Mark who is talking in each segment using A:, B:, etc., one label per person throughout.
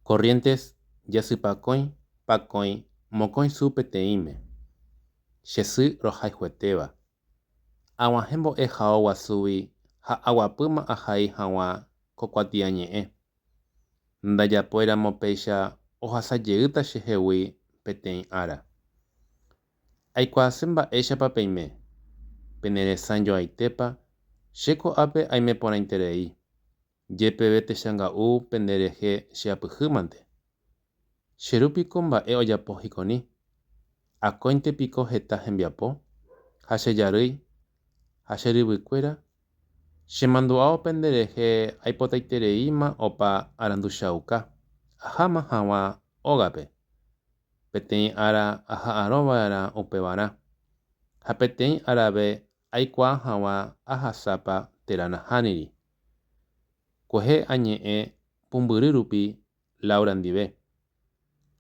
A: Corrientes jasypakõi pakõi mokõi su peteĩme, che sy rohayhuetéva. Aguahẽ mbo'e hao guasúgui ha aguapýma ahai hag̃ua ko kuatiañe'ẽ. Ndajapoiramo péicha ohasa jeýta chehegui peteĩ ára. Aikuaase mba'éichapa peime, peneresãjoaitépa che ko'ápe aime porãiterei. Jepeve techanga'u pende rehe che apyhy mante. Che ru piko mba'e ojapo hikoni? Akóinte piko heta hembiapo, ha che jarýi, ha che ryvykuéra? Che mandu'ao pende rehe aipotaitereíma opa aranduchauka, aháma haguã ógape, peteĩ ára aha'arõ va'erã upevarã, ha peteĩ arave aikuaa haguã ahasápa térã nahániri. Kuehe añe'ẽ pumbyry rupi Laura ndive.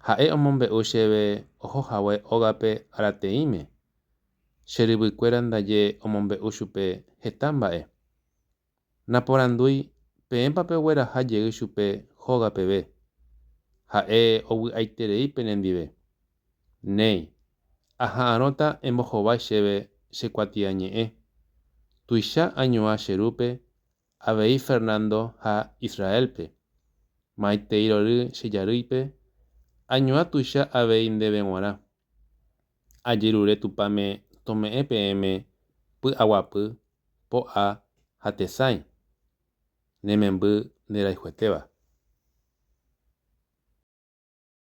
A: Ha'e omombe'u chéve oho hague ógape arateĩme. Che ryvykuéra ndaje omombe'u chupe heta mba'e. Naporandúi peẽpa pegueraha jey chupe hóga peve. Ha'e ovy'aiterei penendive. Néi, aha'arõta embohovái chéve che kuatiañe'ẽ. Tuicha añuã che rúpe avei Fernando ha Israélpe. Maitei rory che jarýipe, añuã tuicha avei ndéve g̃uarã. Ajerure Tupãme tome'ẽ peẽme py'aguapy, po'a ha tesãi, ne memby nderayhuetéva.